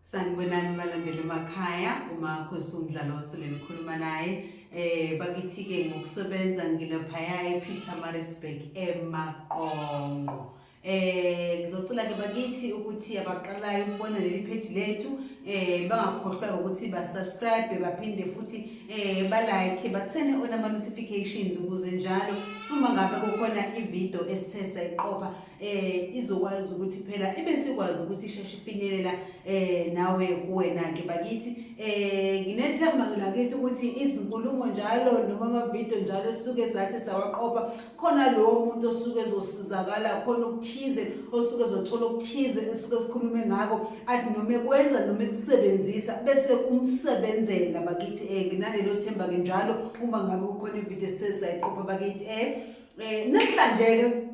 Sanibonani balandeli emakhaya uma khosi umdlalo osele nikhuluma naye eh bakithi-ke ngokusebenza ngilaphaya e-petermarisburg emaqonqo eh ngizocela-ke bakithi ukuthi abaqalayo ukubona leli pheji lethu eh bangakhohlwa ukuthi basubscribe baphinde futhi eh balike bathene onama-notifications ukuze njalo uma ngabe kukhona ividiyo esithe sayiqopha eh izokwazi ukuthi phela ibe sikwazi ukuthi isheshe ifinyelela eh nawe kuwena ke bakithi eh nginethemba lakithi ukuthi izinkulumo njalo noma ama video njalo suke sathi sawaqopha khona lo muntu osuke ezosizakala khona ukuthize osuke ezothola ukuthize esuke sikhulume ngako athi noma ekwenza noma ekusebenzisa bese kumsebenzela bakithi eh nginalelo themba ke njalo uma ngabe kukhona ivideo sesizayiqopha bakithi eh, eh namhlanje ke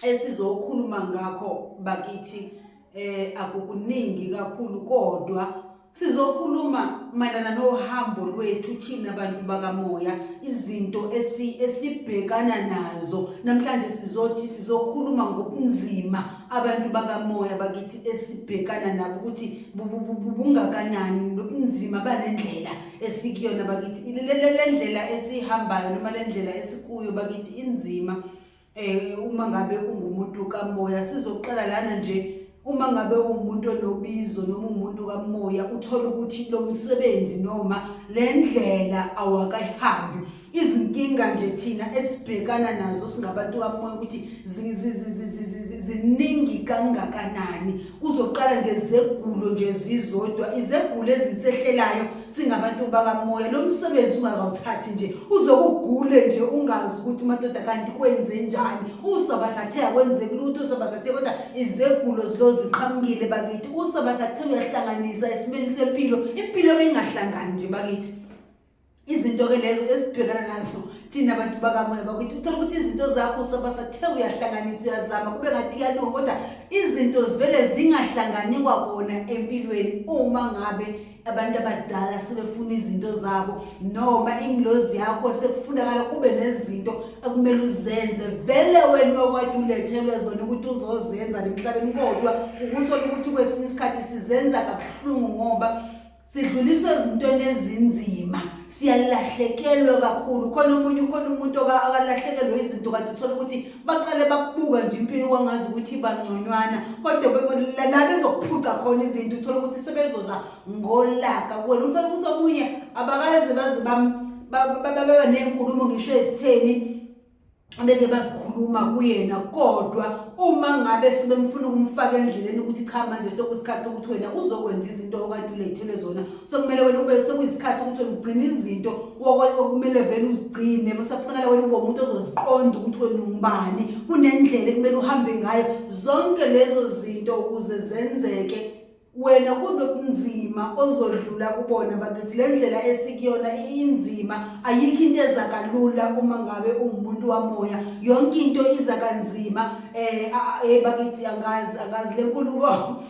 esizokhuluma ngakho bakithi eh akukuningi kakhulu kodwa sizokhuluma mayelana nohambo lwethu thina bantu bakamoya izinto esi esibhekana nazo namhlanje sizothi sizokhuluma ngobunzima abantu bakamoya bakithi esibhekana nabo ukuthi bungakanani nobunzima balendlela esikuyona bakithi lendlela esihambayo noma lendlela esikuyo bakithi inzima eh uma ngabe ungumuntu kamoya sizoxela lana nje uma ngabe umuntu onobizo noma umuntu kamoya uthola ukuthi lo msebenzi noma le ndlela awakayihambi izinkinga nje thina esibhekana nazo singabantu kamoya ukuthi ziningi kangakanani kuzoqala ngezegulo nje zizodwa izegulo ezisehlelayo singabantu bakamoya lo msebenzi ungakawuthathi nje uzokugule nje ungazi ukuthi madoda kanti kwenze njani usabasathe akwenzeki lutho usabasathe kodwa izegulo zilo ziqhamukile bakithi usabasathe uyahlanganisa esimeni sempilo impilo ke ingahlangani nje bakithi izinto ke lezo esibhekana nazo thina bantu bakamoya bakuthi uthola ukuthi izinto zakho usabasathe uyahlanganisa uyazama kube ngathi iyalunga kodwa izinto zivele zingahlangani kwakona empilweni uma ngabe abantu abadala sebefuna izinto zabo noma ingilozi yakho sekufunakala kube nezinto ekumele uzenze vele wena okwade ulethelwe zona ukuthi uzozenza nemhlabeni kodwa ukuthole ukuthi kwesinye isikhathi sizenza kabuhlungu ngoba sidluliswe ezintweni ezinzima siyalahlekelwa kakhulu khona omunye khona umuntu akalahlekelwe izinto kanti uthola ukuthi baqale bakubuka nje impilo kwangazi ukuthi bangconywana kodwa la bezokuphuca khona izinto uthola ukuthi sebezoza ngolaka kuwena uthola ukuthi omunye abakaze baze baba nenkulumo ngisho ezitheni beke bazikhuluma kuyena kodwa uma ngabe sebemfuna ukumfaka endleleni ukuthi cha manje sokusikhathi sokuthi wena uzokwenza izinto okade ulethele zona sokumele wena ube sekuyisikhathi sokuthi wena ugcine izinto okumele vele uzigcine musafanele wena ube umuntu ozoziqonda ukuthi wena ungubani kunendlela ekumele uhambe ngayo zonke lezo zinto ukuze zenzeke wena kunobunzima ozodlula kubona bakithi le ndlela esikuyona inzima ayikho into eza kalula uma ngabe ungumuntu wamoya yonke into iza kanzima eh hey bakithi angazi angazi le nkulumo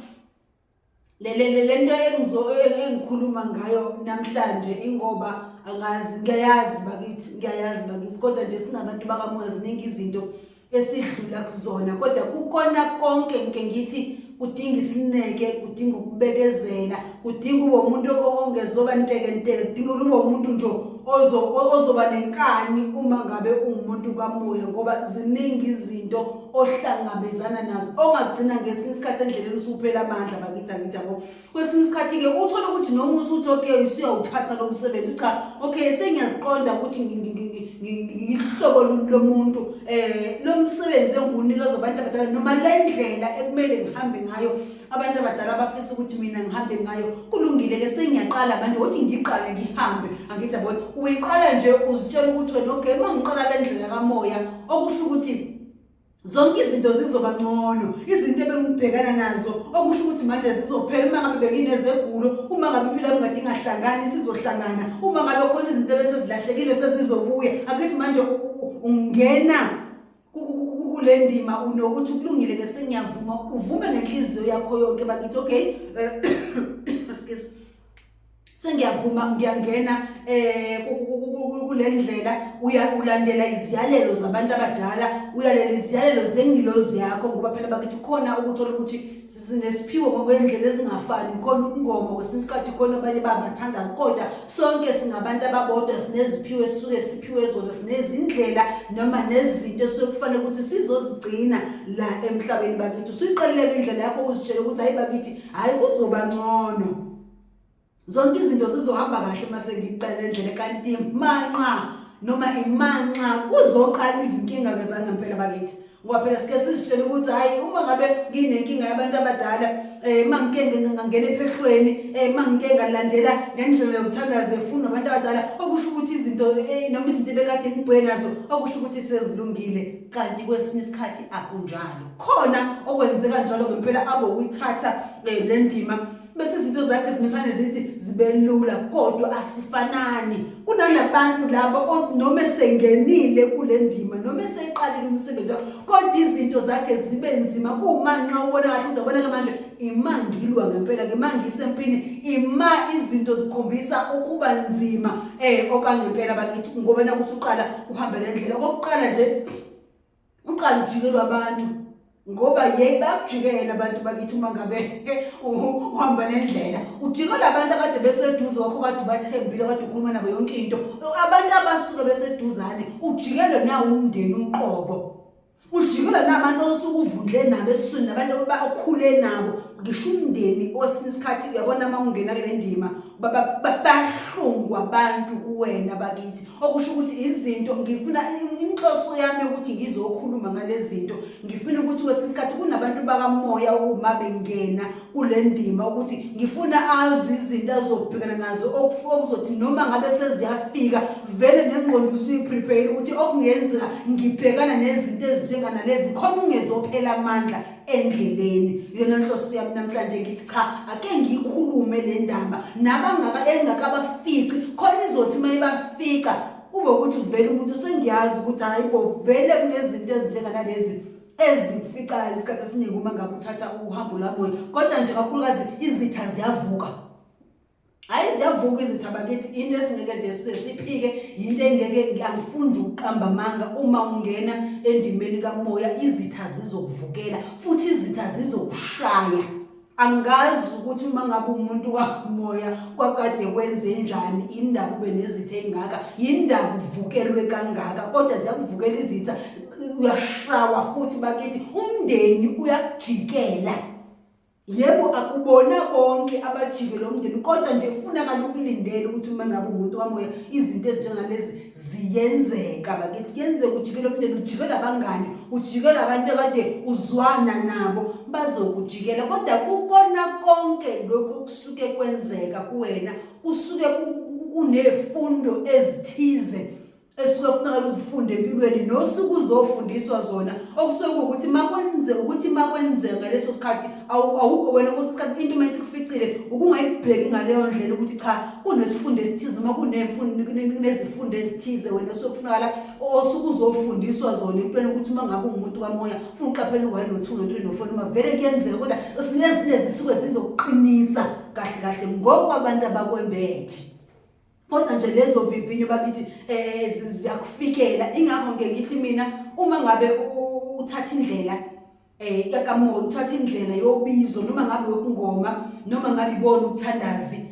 le le le nto engizo engikhuluma ngayo namhlanje ingoba angazi ngiyayazi bakithi ngiyayazi bakithi kodwa nje singabantu bakamoya ziningi izinto esidlula kuzona kodwa kukona konke ngike ngithi kudinga isineke kudinga ukubekezela kudinga ube umuntu ongezoba ntekenteke kudinga ukuthi ube umuntu nje ozoba nenkani uma ngabe ungumuntu kamoya ngoba ziningi izinto ohlangabezana nazo ongagcina ngesinye isikhathi endleleni usuphela amandla bakithi angithi yabo kwesinye isikhathi-ke uthole ukuthi noma usuthi okay usuyawuthatha lo msebenzi cha okay sengiyaziqonda ukuthi ngihlobo luni lomuntu um eh, lo msebenzi engiwunikezwa abantu abadala noma le ndlela ekumele ngihambe ngayo abantu abadala bafisa ukuthi mina ngihambe ngayo kulungile-ke sengiyaqala manje ukuthi ngiqale ngihambe angithi yabona uyiqala nje uzitshela ukuthi wena okay uma ngiqala le ndlela kamoya okusho ukuthi zonke izinto zizoba ngcono izinto ebengibhekana nazo okusho ukuthi manje zizophela uma ngabe benginezegulo uma ngabe impilo yami kade ingahlangani sizohlangana uma ngabe khona izinto ebesezilahlekile sezizobuya akithi manje ungena kule ndima unokuthi kulungile ke sengiyavuma uvume ngenhliziyo yakho yonke bakithi okay eh, sengiyavuma ngiyangena eh kulendlela uyakulandela iziyalelo zabantu abadala uyalela iziyalelo zengilozi yakho ngoba phela bakithi khona ukuthola ukuthi sinesiphiwo ngokwendlela ezingafani khona ukungoma kwesinye isikhathi khona abanye bangathandazi kodwa sonke singabantu ababodwa sineziphiwo esisuke siphiwe zona sinezindlela noma nezinto esuke kufanele ukuthi sizozigcina la emhlabeni bakithi usuyiqalile indlela yakho ukuzitshela ukuthi hayi bakithi hayi kuzoba ngcono zonke izinto zizohamba kahle uma sengicela endlele kanti manxa noma imanxa kuzoqala izinkinga ke zangempela bakithi ngoba phela sike sizitshele ukuthi hhayi uma ngabe nginenkinga yabantu abadala um uma ngike ngangena ephehlweni um uma ngike ngalandela ngendlela yokuthanda zefundo abantu abadala okusho ukuthi izinto eh, noma izinto ebekade ngibheke nazo okusho ukuthi sezilungile kanti kwesinye isikhathi akunjalo khona okwenzeka njalo ngempela abo uyithatha um le ndima bese izinto zakhe zimesane zithi zibelula kodwa asifanani kunanabantu laba noma esengenile kule ndima noma eseyiqalile umsebenzi wakhe kodwa izinto zakhe zibe nzima kuwumanxa ubona kahle ukuthi aboneke manje imangilwa ngempela ke manje isempini ima izinto zikhombisa ukuba nzima um okangempela bakithi ngoba nakusuqala uhambele ndlela kokuqala nje uqala ujikelwa abantu ngoba yeyi bakujikela abantu bakithi uma ngabe uhamba nendlela ujikela abantu akade beseduze wakho kade ubathembile kade ukhuluma nabo yonke into abantu abasuke beseduzane ujikelwe nawo umndeni uqobo ujikelwe nabantu osuke uvundle nabo esiswini nabantu okhule nabo ngisho umndeni owesinye isikhathi uyabona uma ungena kule ndima bahlungwa abantu kuwena bakithi okusho ukuthi izinto ngifuna inhloso yami ukuthi ngizokhuluma ngale zinto ngifuna ukuthi kwesinye isikhathi kunabantu bakamoya okuma bengena kule ndima ukuthi ngifuna azwe izinto azobhekana nazo okuzothi noma ngabe seziyafika vele nengqondo usuyiprepare ukuthi okungenzeka ngibhekana nezinto ezinjenganalezi khona ungezophela amandla endleleni yona nhloso yami namhlanje ngithi cha ake ngiyikhulume le ndaba nabangaka engakabafici khona izothi uma ibafica kube ukuthi uvele umuntu sengiyazi ukuthi hayi bo vele kunezinto ezinjenganalezi ezificayo isikhathi esiningi uma ngabe uthatha uhambo lwamoya kodwa nje kakhulukazi izitha ziyavuka hayi ziyavuka izitha bakithi into esingeke nje size siphike yinto engeke angifundi ukuqamba amanga uma ungena endimeni kamoya izitha zizokuvukela futhi izitha zizokushaya angazi ukuthi uma ngabe umuntu wamoya kwakade kwenze njani indaba ube nezitha engaka yindaba uvukelwe kangaka kodwa ziyakuvukela izitha uyashawa futhi bakithi umndeni uyakujikela Yebo akubona bonke abajike lo mndeni kodwa nje kufunakala ukulindele ukuthi uma ngabe umuntu wamoya izinto ezinjengalezi ziyenzeka bakithi kuyenzeka ujike lo mndeni ujike labangani ujike labantu ekade uzwana nabo bazokujikela kodwa kukona konke lokhu kusuke kwenzeka kuwena kusuke kunefundo ezithize esuke kufuneka uzifunde empilweni nosuke uzofundiswa zona okusuke ukuthi makwenze ukuthi makwenzeka ngaleso sikhathi awukho wena kweso sikhathi into uma isikuficile ukungayibheki ngaleyo ndlela ukuthi cha kunesifundo esithize noma kunezifundo ezithize wena osuke kufunakala osuke uzofundiswa zona empilweni ukuthi uma ngabe ungumuntu kamoya funa uqaphele u-one no-two no-three no-four noma vele kuyenzeka kodwa sinezinye zisuke zizokuqinisa kahle kahle ngokwabantu abakwembethe kodwa nje lezo vivinyo bakithi eh ziyakufikela ingakho ngeke ngithi mina uma ngabe uthatha indlela eh yakamoya uthatha indlela yobizo noma ngabe yokungoma noma ngabe ibona ukuthandazi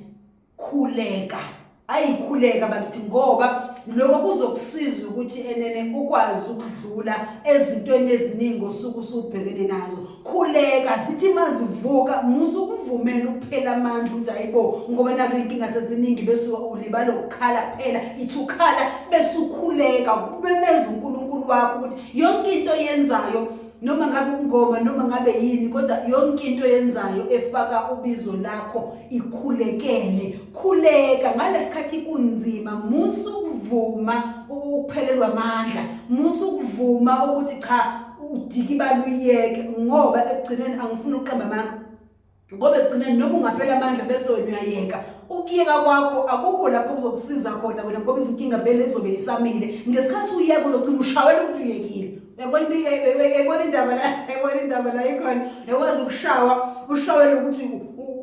khuleka ayikhuleka bakithi ngoba lokho kuzokusiza ukuthi enene ukwazi ukudlula ezintweni eziningi osuku usubhekene nazo khuleka sithi mazivuka musa ukuvumela ukuphela amandla ukuthi hayibo ngoba nakho inkinga seziningi besuka ulibala ukukhala kuphela ithi ukhala bese ukhuleka ubemeza unkulunkulu wakho ukuthi yonke into yenzayo noma ngabe umngoma noma ngabe yini kodwa yonke into yenzayo efaka ubizo lakho ikhulekele khuleka ngalesikhathi kunzima musu ukuvuma ukuphelelwa amandla musu ukuvuma ukuthi cha udiki baluyeke ngoba ekugcineni angifuni ukuqamba amanga ngoba ekugcineni noma ungaphela amandla bese wena uyayeka ukuyeka kwakho akukho lapho kuzokusiza khona wena ngoba izinkinga vele izobe isamile ngesikhathi uyeka uzogcina ushawela ukuthi uyekile yabona into yabona indaba la yabona indaba la ikhona yakwazi ukushawa ushawela ukuthi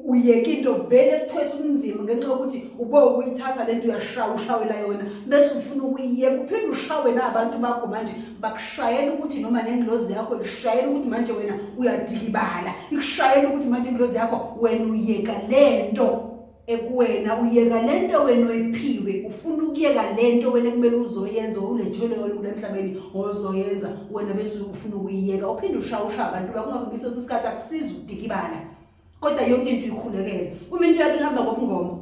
uyeke into vele kuthwesa ubunzima ngenxa yokuthi ube ukuyithatha lento uyashawa ushawela yona bese ufuna ukuyiyeka uphinde ushawe nabantu bakho manje bakushayela ukuthi noma nengilozi yakho ikushayela ukuthi manje wena uyadikibala ikushayela ukuthi manje ingilozi yakho wena uyeka le nto ekuwena uyeka le nto wena oyiphiwe ufuna ukuyeka le nto wena kumele uzoyenza ulethelwe wena kule mhlabeni ozoyenza wena bese ufuna ukuyiyeka uphinde ushawusha abantu bakungakho ngiso isikhathi akusiza ukudikibala kodwa yonke into uyikhulekele uma into yakho ihamba ngobungoma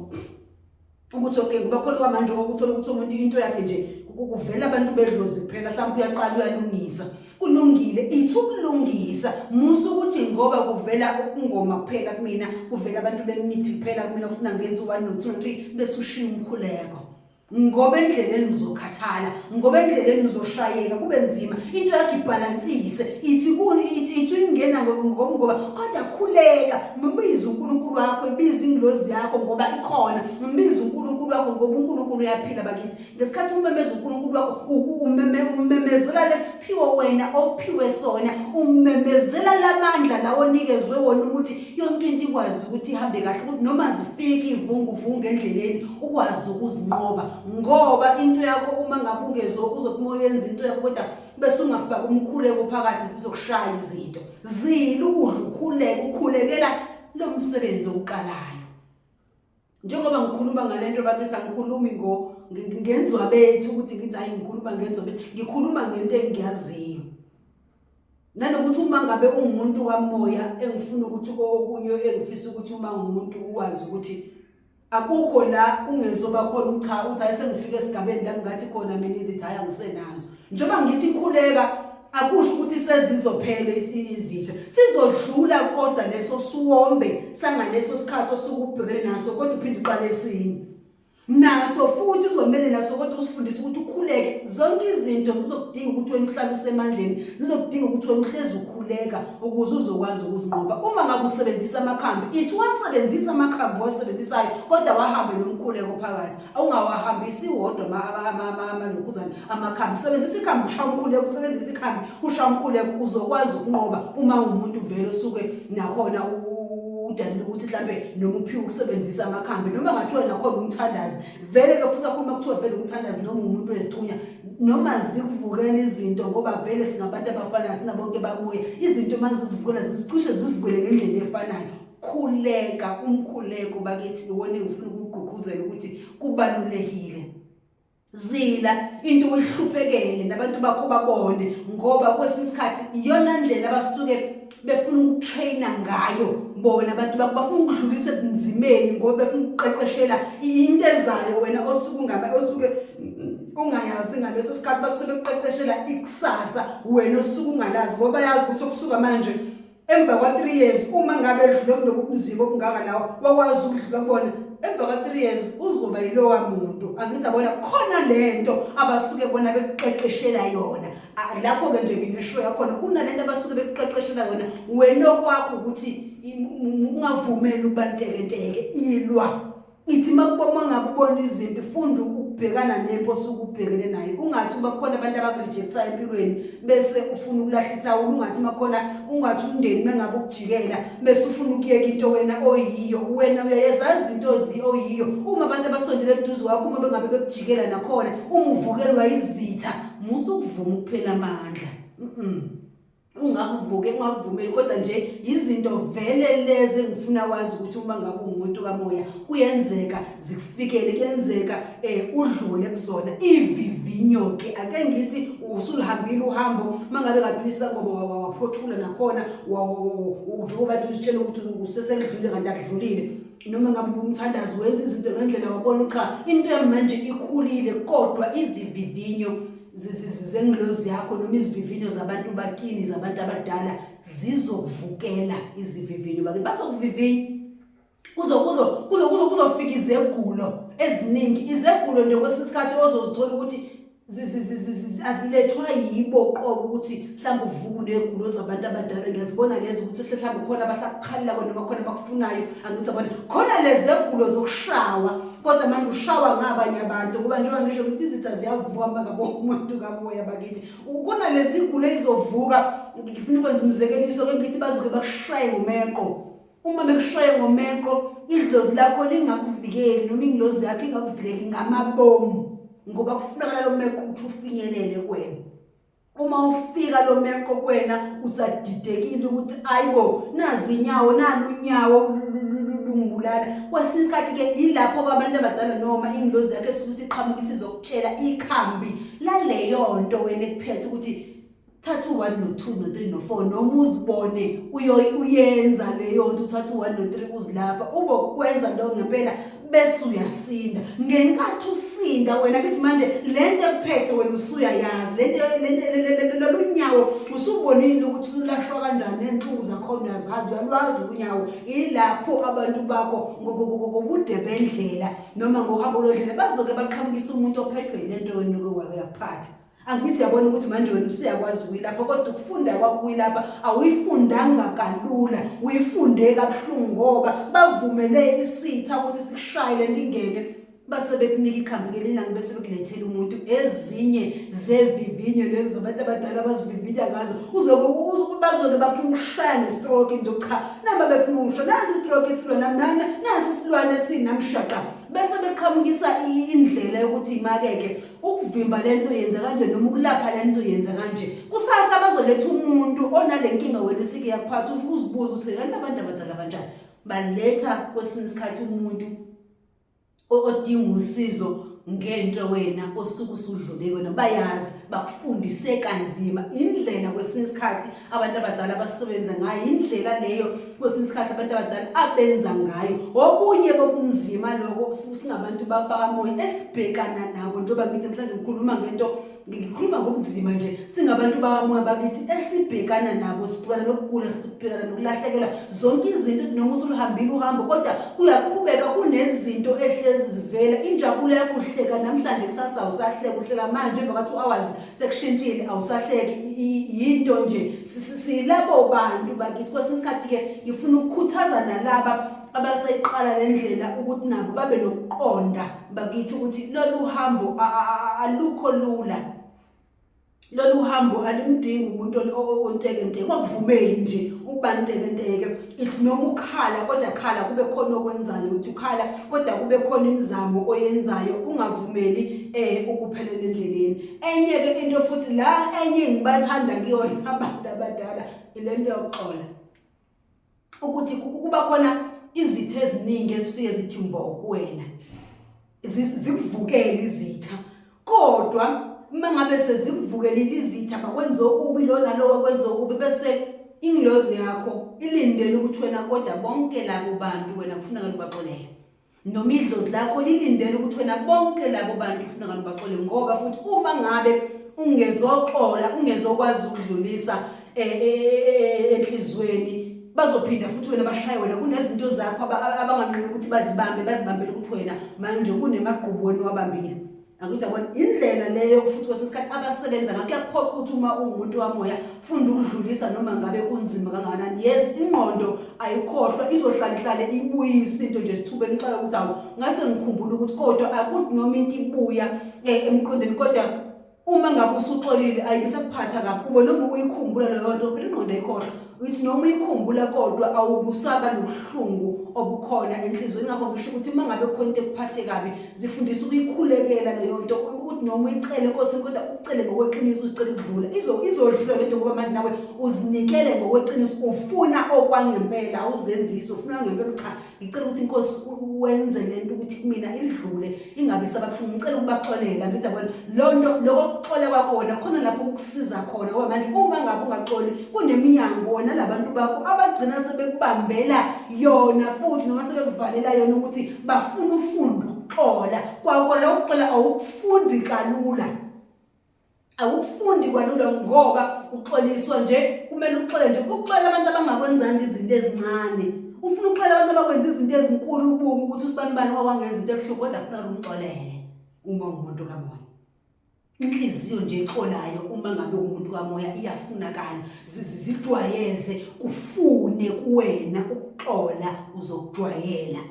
ukuthi okay kuba khona kwamanje okuthola ukuthi umuntu into yakhe nje kuvela abantu bedlozi kuphela mhlawumbe uyaqala uyalungisa kulungile ithi ukulungisa musa ukuthi ngoba kuvela ukungoma kuphela kumina kuvela abantu bemithi kuphela kumina ufuna ngenzi 1 no 2 3 bese ushiya umkhuleko ngoba endleleni uzokhathala ngoba endleleni uzoshayeka kube nzima into yakho ibhalansise ithi kuni ithi ithi ingena ngoba kodwa khuleka mbize uNkulunkulu wakho ibize ingilozi yakho ngoba ikhona mbize uNkulunkulu wakho ngoba uNkulunkulu uyaphila bakithi ngesikhathi umemeza uNkulunkulu wakho umeme umemezela lesiphiwo wena ophiwe sona umemezela lamandla lawo onikezwe wona ukuthi yonke into ikwazi ukuthi ihambe kahle ukuthi noma zifika ivunguvungu endleleni ukwazi ukuzinqoba ngoba into yakho uma ngabe ungezo uzothi uma uyenza into yakho kodwa bese ungafaki umkhuleko phakathi sizokushaya izinto zile ukudla ukhuleke ukhulekela lo msebenzi oqalayo njengoba ngikhuluma ngale nto bakithi angikhulumi ngo ngenzwa bethu ukuthi ngithi hayi ngikhuluma ngenzwa bethu ngikhuluma ngento engiyaziyo nanokuthi uma ngabe ungumuntu kamoya engifuna ukuthi okunye engifisa ukuthi uma ngumuntu uwazi ukuthi akukho la ungezoba khona ucha uthi hayi sengifike esigabeni la ngingathi khona mina izithi hayi angisenazo njengoba ngithi khuleka akusho ukuthi sezizophela izitsha sizodlula kodwa leso siwombe sangaleso sikhathi osuke ubhekene naso kodwa uphinde uqale esinye naso futhi uzomele naso kodwa usifundise ukuthi ukhuleke zonke izinto zizokudinga ukuthi wena uhlale usemandleni zizokudinga ukuthi wena uhlezi ukhuleka ukuze uzokwazi ukuzinqoba uma ngabe usebenzisa amakhambi ithi wasebenzisa amakhambi owasebenzisayo kodwa wahambe nomkhuleko phakathi awungawahambisi wodwa amalokhuzane amakhambi sebenzisa ikhambi ushaya umkhuleko usebenzisa ikhambi ushaya umkhuleko uzokwazi ukunqoba uma umuntu vele osuke nakhona udalile ukuthi mhlambe noma uphiwe ukusebenzisa amakhambi noma ngathiwa nakhona umthandazi vele ke futhi akhuluma kuthiwa vele umthandazi noma umuntu wezithunya noma zikuvukela izinto ngoba vele singabantu abafanayo sinabonke babuye izinto uma zizivukela zizicishe zizivukele ngendlela efanayo khuleka umkhuleko bakithi iwona engifuna ukugqugquzela ukuthi kubalulekile zila into oyihluphekele nabantu bakho babone ngoba kwesinye isikhathi iyona ndlela abasuke befuna ukutraina ngayo bona abantu bakho bafuna ukudlulisa ebunzimeni ngoba befuna ukuqeqeshela into ezayo wena osuke ungaba osuke ungayazi ngaleso sikhathi basuke bekuqeqeshela ikusasa wena osuke ungalazi ngoba bayazi ukuthi okusuka manje emva kwa 3 years uma ngabe edlule kuloku kunzima okungaka lawo wakwazi ukudlula kubona emva kwa 3 years uzoba yilowa muntu angithi abona khona lento abasuke bona bekuqeqeshela yona lapho-ke nje ngineshow yakhona kunalento abasuke bekuqeqeshela yona wena okwakho ukuthi ungavumeli ukuba ntekenteke ilwa ithi uma ngabe ubona izimpi funda ukubhekana nempi osuke ubhekene nayo ungathi uba khona abantu abakurejecta empilweni bese ufuna ukulahla ithawula ungathi uma khona ungathi umndeni mengabe ukujikela bese ufuna ukuyeka into wena oyiyo wena uyayezazi izinto oyiyo uma abantu abasondele eduze kwakho uma bengabe bekujikela nakhona uma uvukelwa izitha musa ukuvuma ukuphela amandla ungakuvuke ungakuvumeli kodwa nje izinto vele lezi engifuna wazi ukuthi uma ngabe umuntu kamoya kuyenzeka zikufikele kuyenzeka eh udlule kuzona ivivinyo ke ake ngithi usulihambile uhambo mangabe kade uyisangoba waphothula nakhona njengoba utshela ukuthi useselidlule kanti akudlulile noma ngabe ubumthandazi wenza izinto ngendlela wabona cha into yamanje ikhulile kodwa izivivinyo zengilozi yakho noma izivivinyo zabantu bakini zabantu abadala zizovukela izivivinyo bakini bazokuvivinya kuzofika izegulo eziningi izegulo nje kwesinye isikhathi ozozithola ukuthi azilethwa yibo qobo ukuthi mhlawumbe uvuku negulo zabantu abadala ngiyazibona lezo ukuthi mhlawumbe khona abasakukhalelako noma khona abakufunayo angithi abona khona lezegulo zokushawa kodwa manje ushawa ngabanye abantu ngoba njengoba ngisho ukuthi izitha ziyavuka makabo umuntu kaboya bakithi khona lezigulo ezizovuka ngifuna ukwenza umzekeliso ke ngithi bazoke bakushaye ngomeqo uma bekushaye ngomeqo idlozi lakho lingakuvikeli noma ingilozi yakho ingakuvikeli ngamabomu ngoba kufunakala lo meqo ukuthi ufinyelele kwena uma ufika lo meqo kwena usadidekile ukuthi ayibo nazi inyawo nani unyawo lungibulala kwesinye isikhathi ke yilapho kwabantu abadala noma ingilozi yakhe esuke isiqhamuka isizokutshela ikhambi laleyo nto wena ekuphethe ukuthi thatha u-one no-two no-three no-four noma uzibone uyenza leyo nto uthatha u-one no-three uzilapha ube ukwenza leyo ngempela bese uyasinda ngenkathi usinda wena kithi manje le nto ekuphethe wena usuyayazi lolu nyawo usubonile ukuthi lulashwa kanjani ney'nhlungu zakhona uyazazi uyalwazi lunyawo ilapho abantu bakho ngobude bendlela noma ngohambo lodlela bazoke baqhamukise umuntu ophethwe yile nto wena oke wayaphatha angithi yabona ukuthi manje wena usuyakwazi ukuyilapha kodwa ukufunda kwakho ukuyilapha awuyifundanga kalula uyifunde kabuhlungu ngoba bavumele isitha ukuthi sikushayele le nto ingene base bekunika ikhambi ngelinani bese bekulethela umuntu ezinye zevivinyo lezi zabantu abadala abazivivinya ngazo uzoke bazoke bafuna ukushaya ngestroke nje cha naba befuna ukusho nasi istroke isilwana mnana nasi isilwane sinamshaqa bese beqhamukisa indlela yokuthi imakeke ukuvimba le nto yenza kanje noma ukulapha le nto yenza kanje kusasa bazoletha umuntu onale nkinga wena isike yakuphatha uzibuze ukuthi kanti abantu abadala kanjani baletha kwesinye isikhathi umuntu odinga usizo ngento wena osuke usudlule kona bayazi bakufundise kanzima indlela kwesinye isikhathi abantu abadala abasebenza ngayo yindlela leyo kwesinye isikhathi abantu abadala abenza ngayo okunye kokunzima lokho singabantu bakamoya esibhekana nabo njengoba ngithi mhlawumbe ngikhuluma ngento ngikhuluma ngobunzima nje singabantu bakamoya bakithi esibhekana nabo sibhekana nokugula sibhekana nokulahlekelwa zonke izinto noma usuluhambile uhambo kodwa kuyaqhubeka kunezinto ehlezi zivela injabulo yakuhleka namhlanje kusasa usahleka uhleka manje emva kwathi u-hours sekushintshile awusahleki yinto nje silabo bantu bakithi kwesinye isikhathi-ke ngifuna ukukhuthaza nalaba abaseyiqala le ndlela ukuthi nabo babe nokuqonda bakithi ukuthi lolu hambo alukho lula lolu hambo alumdingi umuntu ontekenteke wakuvumeli nje ukuba ntekenteke it's noma ukhala kodwa khala kube khona okwenzayo ukuthi ukhala kodwa kube khona imizamo oyenzayo ungavumeli eh ukuphelela endleleni enye ke into futhi la enye ngibathanda kuyona abantu abadala ilento yokuxola ukuthi kuba khona izithe eziningi ezifike zithi mbo kuwena zikuvukele izitha kodwa uma ngabe sezikuvukelile izitha bakwenze okubi lo nalo wakwenze okubi bese ingilozi yakho ilindele ukuthi wena kodwa bonke labo bantu wena kufuneka lubaxolele noma idlozi lakho lilindele ukuthi wena bonke labo bantu kufuneka lubaxolele ngoba futhi uma ngabe ungezoxola ungezokwazi ukudlulisa e, e, e, enhlizweni bazophinda futhi wena bashaye wena kunezinto zakho abanganqini ukuthi bazibambe bazibambele ukuthi wena manje kunemagqubu wena wabambile akuthi yabona indlela leyo futhi kwesinye isikhathi abasebenza ngakho kuyakuphoqa ukuthi uma ungumuntu wamoya funda ukudlulisa noma ngabe kunzima kangakanani yes ingqondo ayikhohlwa izohlala ihlale ibuyise into nje sithuba emxaka ukuthi awu ngase ngikhumbula ukuthi kodwa akuthi noma into ibuya eh, emqondweni kodwa uma ngabe usuxolile ayibisakuphatha kabi ube noma uyikhumbula leyo nto phela ingqondo ayikhohlwa uyithi noma uyikhumbula kodwa awubusaba nobuhlungu obukhona enhliziyweni ingakho ngisho ukuthi uma ngabe khona into ekuphathe kabi zifundisa ukuyikhulekela leyo nto ukuthi noma uyicele inkosi kodwa ucele ngokweqiniso uzicele ukudlula izodlula le nto ngoba manje nawe uzinikele ngokweqiniso ufuna okwangempela awuzenzisi ufuna ngempela cha ngicela ukuthi inkosi wenze lento ukuthi kumina idlule ingabi sababuhlungu ngicela ukubaxolela ngithi yabona lo nto loko kuxola kwakho wena khona lapho ukukusiza khona ngoba manje uma ngabe ungaxoli kuneminyango wona labantu bakho abagcina sebekubambela yona futhi noma sebekuvalela yona ukuthi bafuna ufunda ukuxola kwakho lo uxola awukufundi kalula awukufundi kwalula ngoba uxoliswa nje kumele uxole nje ukuxolela abantu abangakwenzanga izinto ezincane ufuna ukuxolela abantu abakwenza izinto ezinkulu ubuke ukuthi usibani bani wawangenza into ebuhlungu kodwa funa umxolele uma ungumuntu kamoya inhliziyo nje exolayo uma ngabe umuntu kamoya iyafunakala zijwayeze kufune kuwena ukuxola uzokujwayela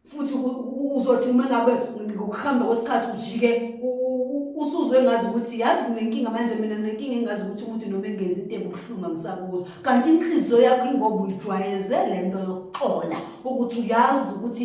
futhi uzothi uma ngabe ngokuhamba kwesikhathi ujike usuzwe ngazi ukuthi yazi nginenkinga manje mina nginenkinga engazi ukuthi umuntu noma engenzi into ebuhlungu angisakuzo kanti inhliziyo yakho ingoba uyijwayeze le nto yokuxola ukuthi uyazi ukuthi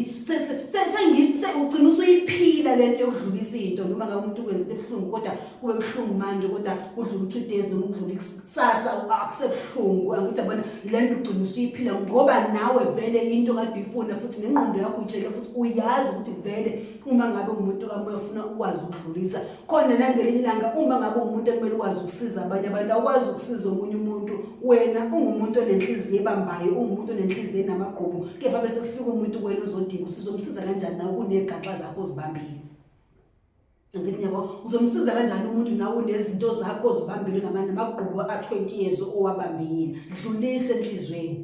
ugcina usuyiphila le nto yokudlulisa into noma ngabe umuntu ukwenza into ebuhlungu kodwa kube buhlungu manje kodwa kudlula u-two days noma kudlula sasa akusebuhlungu angithi abona le nto ugcina usuyiphila ngoba nawe vele into kade uyifuna futhi nengqondo yakho uyitshele futhi uyazi ukuthi vele uma ngabe umuntu kamoya ufuna ukwazi ukudlulisa khona nangelinye ilanga uma ngabe umuntu ekumele ukwazi ukusiza abanye abantu awukwazi ukusiza omunye umuntu wena ungumuntu onenhliziyo ebambayo ungumuntu onenhliziyo enamagqubu kepha bese kufika umuntu kuwena uzodinga usizo umsiza kanjani nawe kunegaxa zakho ozibambile ngithi yabo uzomsiza kanjani umuntu nawe unezinto zakho ozibambile namanye amagqubu a-20 years owabambile dlulise enhlizweni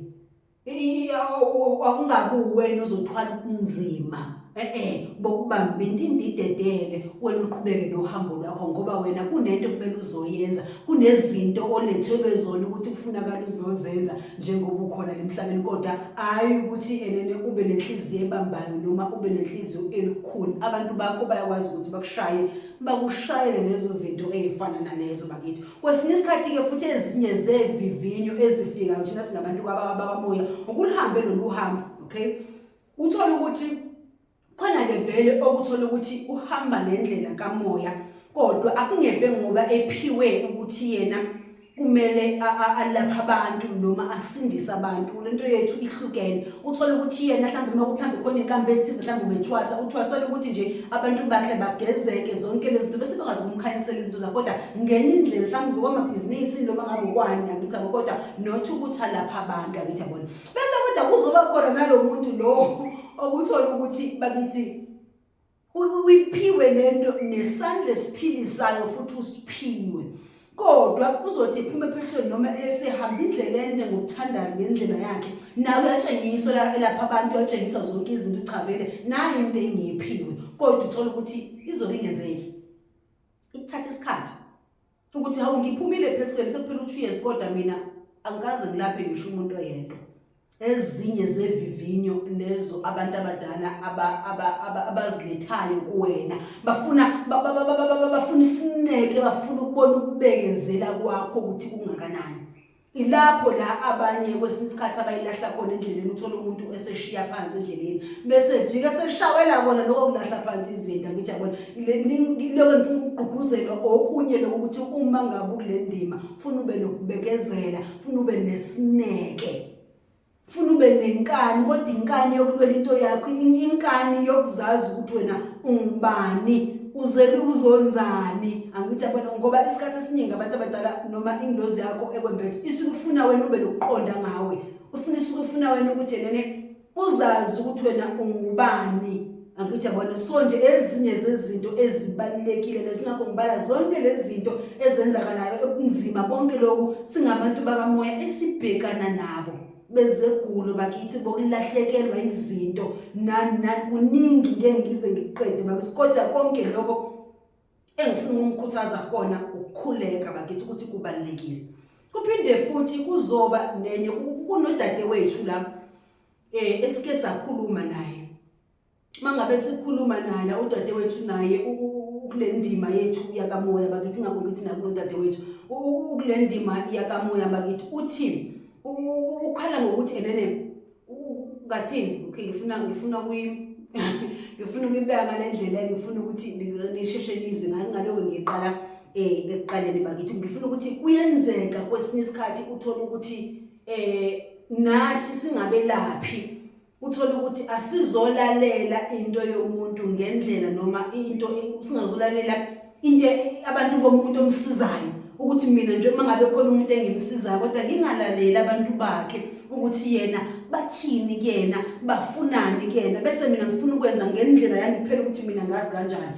akungabi uwena ozothwala ubunzima e-e bokubamba into indidedele wena uqhubeke nohambo lwakho ngoba wena kunento kumele uzoyenza kunezinto olethelwe zona ukuthi kufunakala uzozenza njengoba ukhona emhlabeni kodwa hayi ukuthi enene ube nenhliziyo ebambayo noma ube nenhliziyo elukhuni abantu bakho bayakwazi ukuthi bakushaye bakushayele lezo zinto ezifana nalezo bakithi kwesinye isikhathi ke futhi ezinye zevivinyo ezifikayo thina singabantu kwababamoya ukulihambe lolu hambo okay uthole ukuthi Khona-ke vele okuthola ukuthi uhamba nendlela kamoya kodwa akungeve ngoba ephiwe ukuthi yena kumele alapha abantu noma asindise abantu le nto yethu ihlukene uthole ukuthi yena mhlawumbe uma kuthi mhlawumbe khona inkambi ethize mhlawumbe ubethwasa uthwasela ukuthi nje abantu bakhe bagezeke zonke lezi zinto bese bekwazi ukumkhanyisela izinto zakho kodwa ngenye indlela mhlawumbe ngokwamabhizinisi noma ngabokwani angithi abo kodwa not ukuthi alapha abantu angithi abona bese kodwa kuzoba khona nalo muntu lo okuthola ukuthi bakithi uyiphiwe lento nesandla esiphilisayo futhi usiphiwe kodwa kuzothi iphume ephehlweni noma esehamba indlela ende ngokuthandaza ngendlela yakhe nawe uyatshengiswa la elapha abantu uyatshengiswa zonke izinto uchavele nayo into engiyiphiwe kodwa uthola ukuthi izobe ingenzeki ikuthatha isikhathi ukuthi hawu ngiphumile ephehlweni sekuphela u-two years kodwa mina angikaze ngilaphe ngisho umuntu oyedwa ezinye zevivinyo lezo abantu abadala abazilethayo kuwena bafuna bafuna isineke bafuna ukubona ukubekezela kwakho ukuthi kungakanani ilapho la abanye kwesinye isikhathi abayilahla khona endleleni uthole umuntu eseshiya phansi endleleni bese jike seshawela kona lokho kulahla phansi izinto ngithi yabona lokho ngifuna ukugqugquzela okunye lokho ukuthi uma ngabe kule ndima funa ube nokubekezela funa ube nesineke funa ube nenkani kodwa inkani yokulwela into yakho inkani yokuzazi ukuthi wena ungubani uzele uzonzani angithi abona ngoba isikhathi esiningi abantu abadala noma ingilozi yakho ekwembethe isikufuna wena ube nokuqonda ngawe ufuna isikufuna wena ukuthi yena uzazi ukuthi wena ungubani angithi yabona so nje ezinye zezinto ezibalulekile lezo ngakho ngibala zonke lezi zinto ezenzakalayo okunzima konke lokhu singabantu bakamoya esibhekana nabo bezegulo bakithi bokulahlekelwa izinto nani nani kuningi ngeke ngize ngiqede bakithi kodwa konke lokho engifuna ukumkhuthaza kona ukukhuleka bakithi ukuthi kubalekile kuphinde futhi kuzoba nenye kunodadewethu la eh esike sakhuluma naye mangabe sikhuluma nala udadewethu naye ukulendima yethu yakamoya bakithi ngakho ngithi nakulo udadewethu ukulendima yakamoya bakithi uthi ukhala ngokuthi enene ngathini okay ngifuna ngifuna kuyi ngifuna ukuyibeka ngalendlela ngifuna ukuthi ngisheshe lizwe ngaloku ngiqala eh ekuqaleni bakithi ngifuna ukuthi kuyenzeka kwesinye isikhathi uthole ukuthi eh nathi singabelaphi uthole ukuthi asizolalela into yomuntu ngendlela noma into singazolalela into abantu bomuntu omsizayo ukuthi mina nje uma ngabe khona umuntu engimsizayo kodwa ngingalaleli abantu bakhe ukuthi yena bathini kuyena bafunani kuyena bese mina ngifuna ukwenza ngendlela yangiphela ukuthi mina ngazi kanjani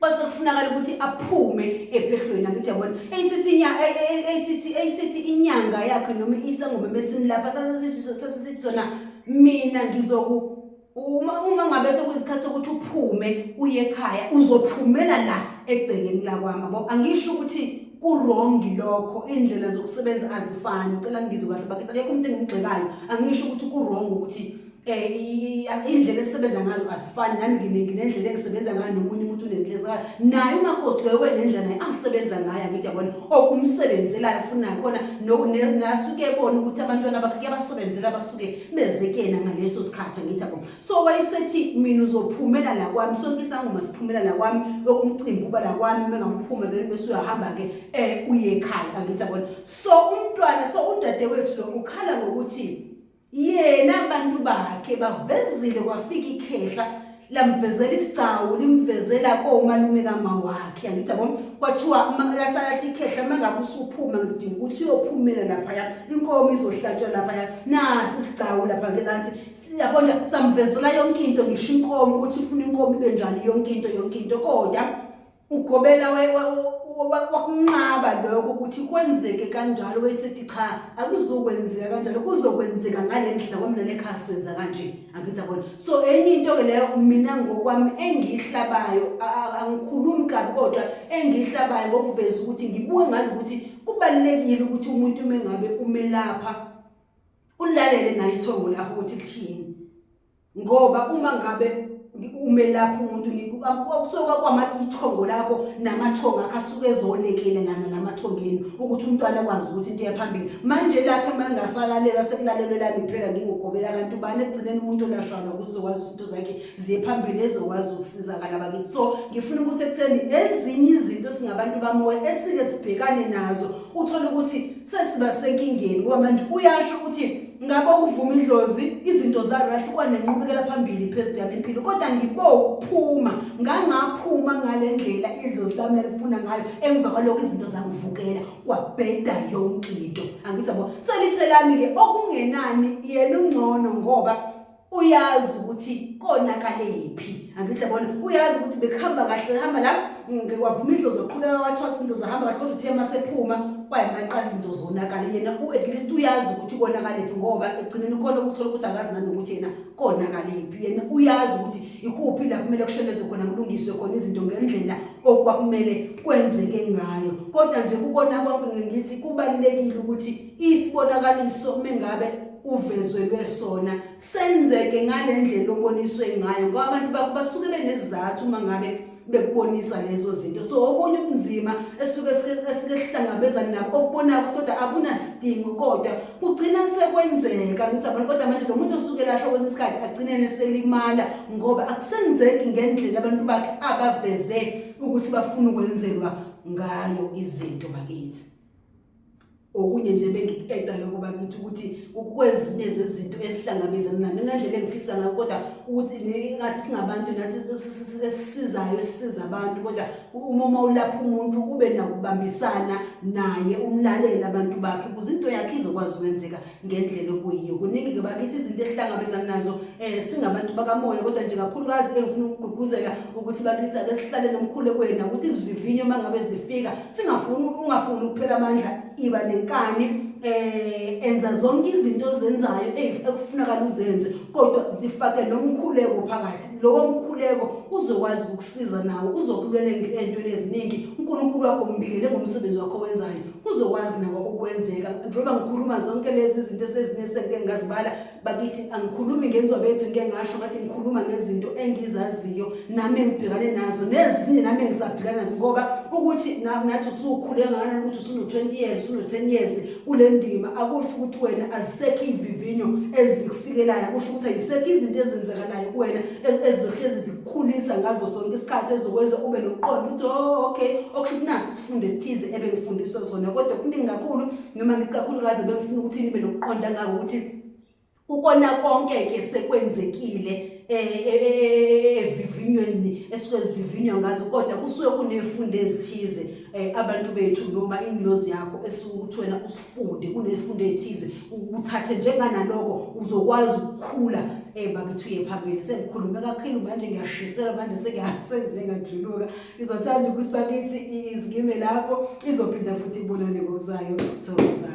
kwase kufunakala ukuthi aphume ephehlweni angithi yabona eyisithi inya eyisithi eyisithi inyanga yakhe noma isangoma mesimlapha sasisithi sasisithi sona mina ngizoku uma uma ngabe sekuzikhathi sokuthi uphume uye ekhaya uzophumela la egcekeni lakwami bo angisho ukuthi kurongi lokho indlela zokusebenza azifani cela ngizwe kahle bakithi akekho umuntu engimgxekayo angisho ukuthi kurongo ukuthi Eh, iy'ndlela esisebenza ngazo asifani nami nginendlela engisebenza ngayo nomunye umuntu unezinhlezi ngayo naye umakhosi loyo wenendlela naye angisebenza ngayo angithi yabona okumsebenzelayo funa nakhona nasuke ebona ukuthi abantwana bakhe kuyabasebenzela basuke beze kuyena ngaleso sikhathi angithi yabona so wayesethi mina uzophumela la kwami sonke isangoma siphumela la kwami yokumcimbi uba la kwami mengamphuma then bese uyahamba-ke um uye ekhaya angithi yabona so umntwana so udadewethu lo ukhala ngokuthi yena abantu bakhe bavezile kwafika ikhehla lamvezela isigcawu limvezela komalume kama wakhe angithi yabo kwathiwa lasalathi ikhehla uma ngabe usuphuma ngidinga ukuthi uyophumela laphaya inkomo izohlatshwa laphaya nasi isigcawu lapha ngezansi yabona samvezela yonke into ngisho inkomo ukuthi ufuna inkomo ibe njani yonke into yonke into kodwa ugobela wakunqaba lokho ukuthi kwenzeke kanjalo wayesethi cha akuzokwenzeka kanjalo kuzokwenzeka ngale ndlela kwamina lekhaya senza kanje angithi abona so enye into-ke leyo mina ngokwami engiyihlabayo angikhulumi kabi kodwa engiyihlabayo ngokuveza ukuthi ngibuke ngazi ukuthi kubalulekile ukuthi umuntu uma engabe umelapha ulalele naye ithongo lakho ukuthi lithini ngoba uma ngabe umelaphi umuntu kusoka kwamaithongo lakho namathongo akho asuke ezolekele ngana namathongeni ukuthi umntwana akwazi ukuthi into eyaphambili manje lakhe uma lingasalalelwa sekulalelwe lami kuphela ngingugobela kanti ubani ekugcineni umuntu olashwana kuzokwazi ukuthi into zakhe ziye phambili ezokwazi ukusizakala bakithi so ngifuna ukuthi ekutheni ezinye izinto singabantu bamoya esike sibhekane nazo uthole ukuthi sesiba senkingeni ngoba manje uyasho ukuthi ngabe ukuvuma idlozi izinto za-right kwanenqubekela phambili phezulu yami impilo kodwa ngibokuphuma ngangaphuma ngale ndlela idlozi lami lalifuna ngayo emva kwalokho izinto zangivukela kwabheda yonke into angithi yabo selithe lami-ke okungenani yena ungcono ngoba uyazi ukuthi konakalephi angithi yabona uyazi ukuthi bekuhamba kahle hamba la ngikwavuma indlo zoqhubeka wathwasa into zahamba kahle kodwa uthe masephuma kwayimaqala izinto zonakala yena at least uyazi ukuthi konakalephi ngoba egcineni khona ukuthola ukuthi akazi nanokuthi yena konakalephi yena uyazi ukuthi ikuphi la kumele kushonezwe khona kulungiswe khona izinto ngendlela okwakumele kwenzeke ngayo kodwa nje kukona konke ngithi kubalulekile ukuthi isibonakaliso mengabe uvezelwe sona senzeke ngalendlela oboniswe ngayo ngoba abantu bakho basuke benezizathu uma ngabe bekubonisa lezo zinto so okunye ubunzima esuke esike sihlangabezana nabo okubona kodwa akunasidingo kodwa kugcina sekwenzeka ukuthi abantu kodwa manje lo muntu osuke lasho kwesinye isikhathi agcine neselimala ngoba akusenzeki ngendlela abantu bakhe abaveze ukuthi bafuna ukwenzelwa ngayo izinto bakithi okunye nje bengikueda lokho bakithi ukuthi kwezinye zezinto esihlangabezana nayo ngendlela engifisa ngayo kodwa ukuthi ngathi singabantu nathi esisizayo esisiza abantu kodwa uma uma ulapha umuntu kube nakubambisana naye umlalele abantu bakhe ukuze into yakhe izokwazi ukwenzeka ngendlela okuyiyo kuningi-ke bakithi izinto esihlangabezana nazo um singabantu bakamoya kodwa nje kakhulukazi engifuna ukugqugquzela ukuthi bakithi ake sihlale nomkhulekweni nakuthi izivivinyo uma ngabe zifika singafuni ungafuni ukuphela amandla iba nenkani eh enza zonke izinto ozenzayo ekufunakala uzenze kodwa zifake nomkhuleko phakathi lowo mkhuleko uzokwazi ukukusiza nawo uzokulwela entweni eziningi uNkulunkulu wakho umbikele ngomsebenzi wakho wenzayo kuzokwazi nako ukwenzeka njengoba ngikhuluma zonke lezi zinto esezinesengike ngazibala bakithi angikhulumi ngenzwa bethu ngike ngasho ngathi ngikhuluma ngezinto engizaziyo nami engibhekane nazo nezinye nami engisabhekana nazo ngoba ukuthi nathi usukhule kangakanani ukuthi usunu-20 years usunu-10 years kule ndima akusho ukuthi wena azisekho iy'vivinyo ezikufikelayo akusho ukuthi ayisekho izinto ezenzekalayo kuwena ezihlezi zikukhulisa ngazo sonke isikhathi ezokwenza ube nokuqonda ukuthi o oh, okay okusho ukuthi nasi isifundo esithize ebengifundiswa sona kodwa kuningi kakhulu noma ngisikakhulukazi bengifuna ukuthi nibe nokuqonda ngako ukuthi ukona konke ke sekwenzekile evivinyweni esuke zivivinywa ngazo kodwa kusuke kunefundo ezithize eh, abantu bethu noma ingilozi yakho esuke ukuthi wena usifunde kunefundo ethize uthathe njenganaloko uzokwazi ukukhula eh bakithi uye phambili sengikhulume kakhulu manje ngiyashisela manje sengiyasenze ngajuluka izothanda ukuthi bakithi izikime lapho izophinda futhi ibonane ngokuzayo thokozani